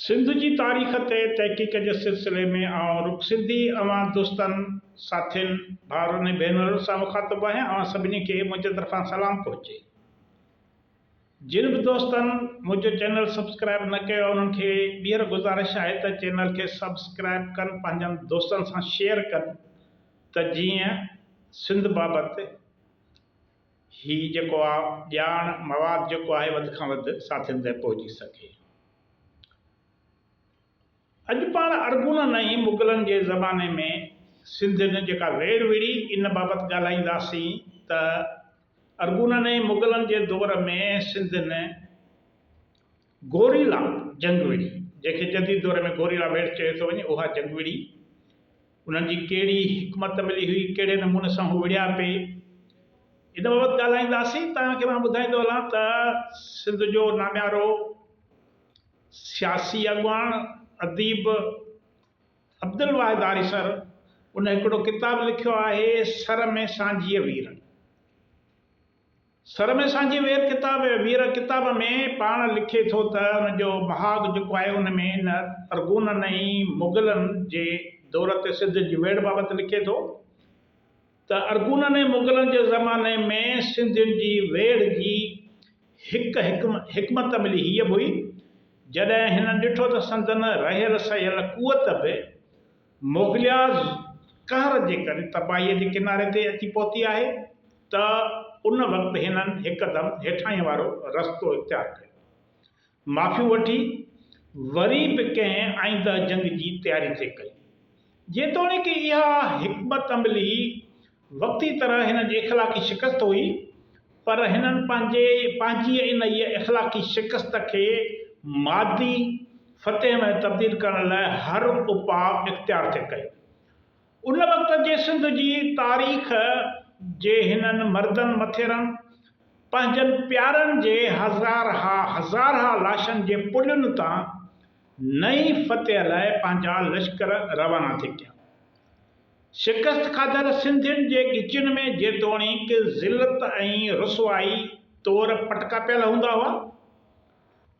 سنڌ جي تاريخ تي تحقيق جي سلسلي ۾ آئون رڳو سنڌي اوهان دوستن، ساٿين، ڀائرن ۽ ڀينرن سان مخاطب آهيان اوهان سڀني کي منهنجي طرفان سلام پهچي. جن به دوستن منهنجو چينل سبسڪرائب نه ڪيو آهي انهن کي ٻيهر گذارش آهي ته چينل کي سبسڪرائب ڪن پنهنجن دوستن سان شيئر ڪن ته جيئن سنڌ بابت هي جيڪو آ ڄاڻ مواد جيڪو آهي وڌ کان وڌ ساٿين تائين پهچي سگهي. اڄ پاڻ ارغونن ۽ مغلن جي زماني ۾ سنڌين جيڪا ويڙهه وڙهي ان بابت ڳالهائينداسين ته ارغونن ۽ مغلن جي دور ۾ سنڌين گوريلا جنگ وڙي، جنهن کي جديد دور ۾ گوريلا ويڙهه چيو ٿو وڃي، اها جنگ وڙي، انهن جي ڪهڙي حڪمت عملي هئي، ڪهڙي نموني سان هو وڙهيا پئي، ان بابت ڳالهائينداسين. توهان کي مان ٻڌائيندو هلان ته سنڌ جو ناميارو سياسي اڳواڻ اديب عبدالواحد آريسر ان هڪڙو ڪتاب لکيو آهي سر ۾ سانجهيء ويرن. سر ۾ سانجهي وير ڪتاب وير ڪتاب ۾ پاڻ لکي ٿو ته ان جو مهاڳ جيڪو آهي ان ۾ هن ارغونن ۽ مغلن جي دور تي سنڌ جي ويڙهه بابت لکي ٿو ته ارغونن ۽ مغلن جي زماني ۾ سنڌين جي ويڙهه جي هڪ حڪمت عملي هيء به هئي جڏهن هن ڏٺو ته سندن رهيل سهيل قوت به مغليا قهر جي ڪري تباهيء جي ڪناري تي اچي پهتي آهي ته ان وقت هنن هڪدم هيٺاهين وارو رستو اختيار ڪيو. معافيون وٺي وري به ڪنهن آئينده جنگ جي تياري ٿي ڪئي. جيتوڻيڪ اها حڪمت عملي وقتي طرح هنن جي اخلاقي شڪست هئي، پر هنن پنهنجي پنهنجيء انهيء اخلاقي شڪست کي مادي فتح ۾ تبديل ڪرڻ لاء هر اپاء اختيار ٿي ڪيو. ان وقت جي سنڌ جي تاريخ جي هنن مردن مٿيرن پنهنجن پيارن جي هزارها هزارها لاشن جي پلين تان نئين فتح لاء پنهنجا لشڪر روانا ٿي ڪيا. شڪست کاڌل سنڌين جي ڳچين ۾ جيتوڻيڪ ذلت ۽ رسوائي طور پٽڪا پيل هوندا هئا،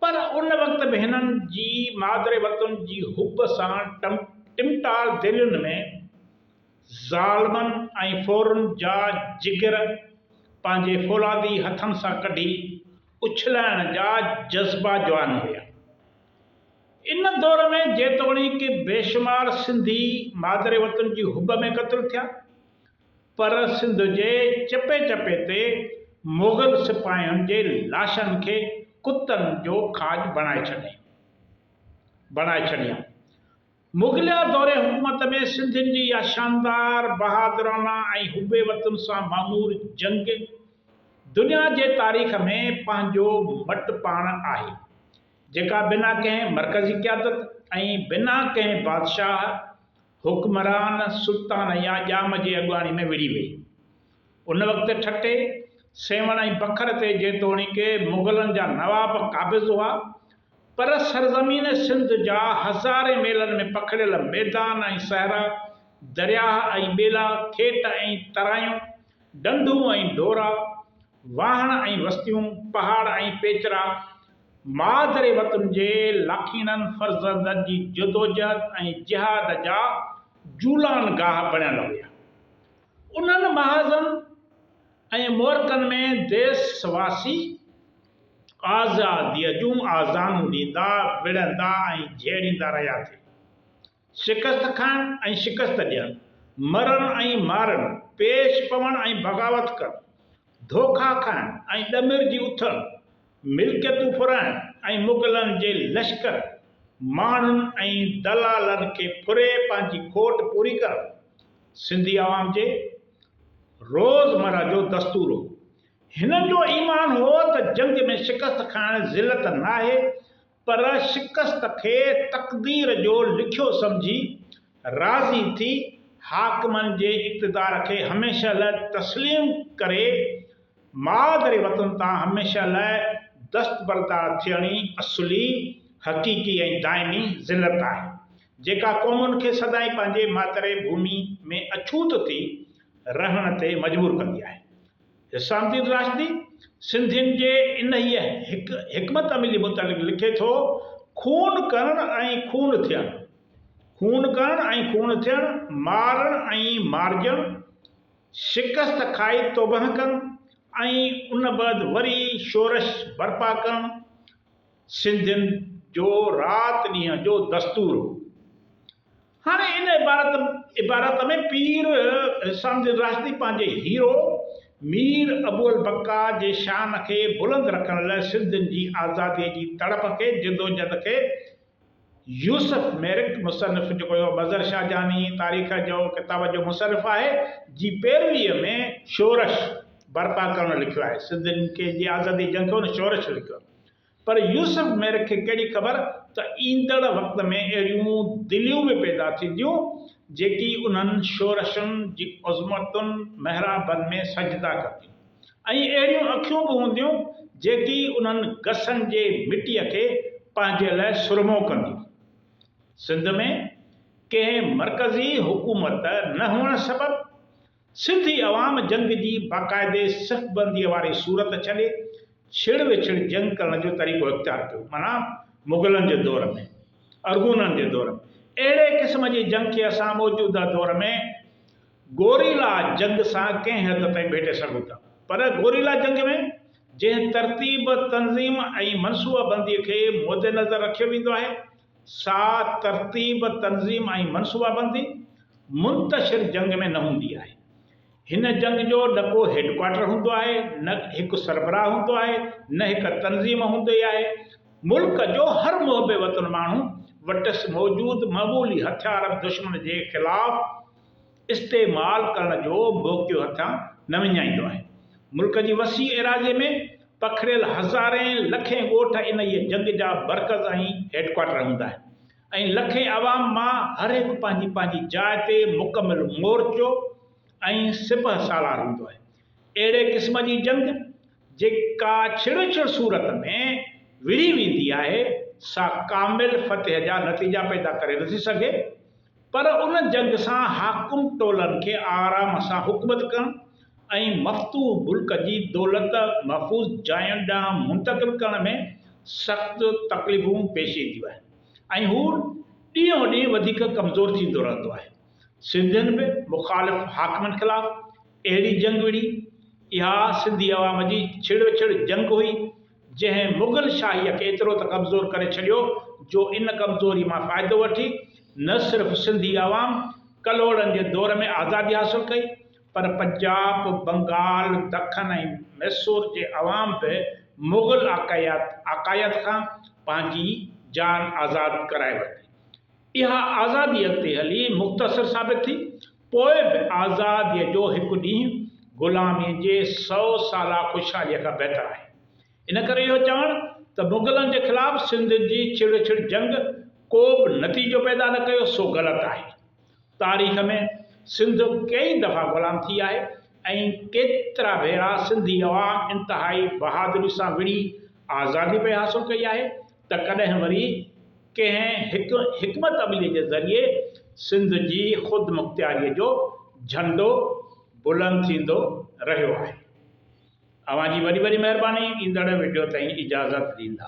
پر ان وقت به هنن جي مادر وطن جي حب سان ٽمٽار دلين ۾ ظالمن ۽ ڦورن جا جگر پنهنجي فولادي هٿن سان ڪڍي اڇلائڻ جا جذبا جوان هيا. ان دور ۾ جيتوڻيڪ بيشمار سنڌي مادر وطن جي حب ۾ قتل ٿيا پر سنڌ جي چپي چپي تي مغل سپاهين جي لاشن کي ڪتن جو کاڄ بڻائي ڇڏيائين. مغليه دور حڪومت ۾ سنڌين جي اها شاندار، بهادرانه ۽ حب وطن سان معمور جنگ دنيا جي تاريخ ۾ پنهنجو مٽ پاڻ آهي. جيڪا بنا ڪنهن مرڪزي قيادت ۽ بنا ڪنهن بادشاهه، حڪمران، سلطان يا ڄام جي اڳواڻي ۾ وڙهي وئي. ان وقت ٺٽي، سيوهڻ ۽ بکر تي جيتوڻيڪ مغلن جا نواب قابض هئا پر سرزمين سنڌ جا هزارين ميلن ۾ پکڙيل ميدان ۽ صحرا، درياهه ۽ ٻيلا، کيت ۽ ترايون، ڍنڍون ۽ ڍورا، واهڻ ۽ وستيون، پهاڙ ۽ پيچرا، مادر وطن جي لاکينن فرزندن جي جدوجهد ۽ جهاد جا جولان گاهه بڻيل هيا. انهن محاذن ۽ معرڪن ۾ ديس واسي آزاديء جون آذانون ڏيندا، وڙهندا ۽ جهيڙيندا رهيا ٿي. شڪست کڻڻ ۽ شڪست ڏيڻ، مرڻ ۽ مارڻ، پيش پوڻ ۽ بغاوت ڪرڻ، ڌوڪا کائڻ ۽ ڏمر جي اٿڻ، ملڪيتون ڦرائڻ ۽ مغلن جي لشڪر، ماڻهن ۽ دلالن کي ڦري پنهنجي کوٽ پوري ڪرڻ سنڌي عوام جي روزمره جو دستور هو. هنن جو ايمان هو ته جنگ ۾ شڪست کائڻ ذلت ناهي پر شڪست کي تقدير جو لکيو سمجهي راضي ٿي حاڪمن جي اقتدار کي هميشه لاء تسليم ڪري مادري وطن تان هميشه لاء دستبردار ٿيڻ ئي اصلي، حقيقي ۽ دائمي ذلت آهي، جيڪا قومن کي سدائين پنهنجي ماتري ڀومي ۾ اڇوت ٿي رهڻ تي مجبور ڪندي آهي. حسام الدين راشدي سنڌين جي انهيء هڪ حڪمت عملي متعلق لکي ٿو، خون ڪرڻ ۽ خون ٿيڻ، خون ڪرڻ ۽ خون ٿيڻ، مارڻ ۽ مارجڻ، شڪست کائي توبهه ڪرڻ ۽ ان بعد وري شورش برپا ڪرڻ سنڌين جو رات ڏينهن جو دستور هو. هاڻي ان عبارت عبارت ۾ پير حسام الدين راشدي پنهنجي هيرو مير ابوالبقا جي شان کي بلند رکڻ لاء سنڌين جي آزاديء جي تڙپ کي جدوجھد کي يوسف ميرڪ مصنف جيڪو جو مظھر شاھجھاني تاريخ جو ڪتاب جو مصنف آهي جي پيرويء ۾ شورش برپا ڪرڻ لکيو آهي سنڌين کي جي آزادي جي جنگ کي هن شورش لکيو آهي پر يوسف مير کي ڪهڙي خبر ته ايندڙ وقت ۾ اهڙيون دليون به پيدا ٿينديون، جيڪي انهن شورشن جي عظمتن محرابن ۾ سجدا ڪنديون ۽ اهڙيون اکيون به هونديون، جيڪي انهن گسن جي مٽيء کي پنهنجي لاء سرمو ڪنديون. سنڌ ۾ ڪنهن مرڪزي حڪومت نه هئڻ سبب سنڌي عوام جنگ جي باقاعدي صف بنديء واري صورت ڇڏي ڇڙ وڇڙ جنگ ڪرڻ جو طريقو اختيار ڪيو معنيٰ مغلن جي دور ۾ ارغونن جي دور ۾ اهڙي قسم جي جنگ کي اسان موجوده دور ۾ گوريلا جنگ سان ڪنهن حد تائين ڀيٽي سگهون ٿا پر گوريلا جنگ ۾ جنهن ترتيب تنظيم ۽ منصوبه بنديء کي مدنظر رکيو ويندو آهي ساء ترتيب، تنظيم ۽ منصوبابندي منتشر جنگ ۾ نه هوندي آهي. هن جنگ جو نه ڪو هيڊڪوارٽر هوندو آهي، نه هڪ سربراهه هوندو آهي، نه هڪ تنظيم هوندي آهي. ملڪ جو هر محب وطن ماڻهو وٽس موجود معمولي هٿيار به دشمن جي خلاف استعمال ڪرڻ جو موقعو هٿيان نه وڃائيندو آهي. ملڪ جي وسيع ايراضي ۾ پکڙيل هزارين لکين ڳوٺ انهيء جنگ جا مرڪز ۽ هيڊ ڪوارٽر هوندا آهن ۽ لکين عوام مان هر هڪ پنهنجي پنهنجي جاء تي مڪمل مورچو ۽ سپهه سالار هوندو آهي. اهڙي قسم جي جنگ جيڪا ڇڙ ڇڙ صورت ۾ وڙهي ويندي آهي، سا ڪامل فتح جا نتيجا پيدا ڪري نٿي سگهي. پر ان جنگ سان حاڪم ٽولن کي آرام سان حڪومت ڪرڻ ۽ مفتوح ملڪ جي دولت محفوظ جاين ڏانهن منتقل ڪرڻ ۾ سخت تڪليفون پيش اينديون آهن ۽ هو ڏينهون ڏينهن وڌيڪ ڪمزور ٿيندو رهندو آهي. سنڌين به مخالف حاڪمن خلاف اهڙي جنگ وڙهي. اها سنڌي عوام جي ڇڙوڇڙ جنگ هئي، جنهن مغل شاهيء کي ايترو ته ڪمزور ڪري ڇڏيو جو ان ڪمزوري مان فائدو وٺي نه صرف سنڌي عوام ڪلهوڙن جي دور ۾ آزادي حاصل ڪئي پر پنجاب، بنگال، دکن ۽ ميسور جي عوام به مغل آقائيت کان پنهنجي جان آزاد ڪرائي ورتي. اها آزادي اڳتي هلي مختصر ثابت ٿي پوء به آزاديء جو هڪ ڏينهن غلاميء جي سؤ سالا خوشحاليء کان بهتر آهي. ان ڪري اهو چوڻ ته مغلن جي خلاف سنڌ جي ڇڙ ڇڙ جنگ ڪو به نتيجو پيدا نه ڪيو سو غلط آهي. تاريخ ۾ سنڌ ڪيئي دفعا غلام ٿي آهي ۽ ڪيترا ڀيرا سنڌي عوام انتهائي بهادري سان وڙهي آزادي پئي حاصل ڪئي آهي. ته ڪڏهن وري ڪنهن هڪ حڪمت عملي جي ذريعي سنڌ جي خودمختياريء جو جهنڊو بلند ٿيندو رهيو آهي. اوهان جي وڏي وڏي مهرباني ايندڙ وڊيو تائين اجازت ڏيندا.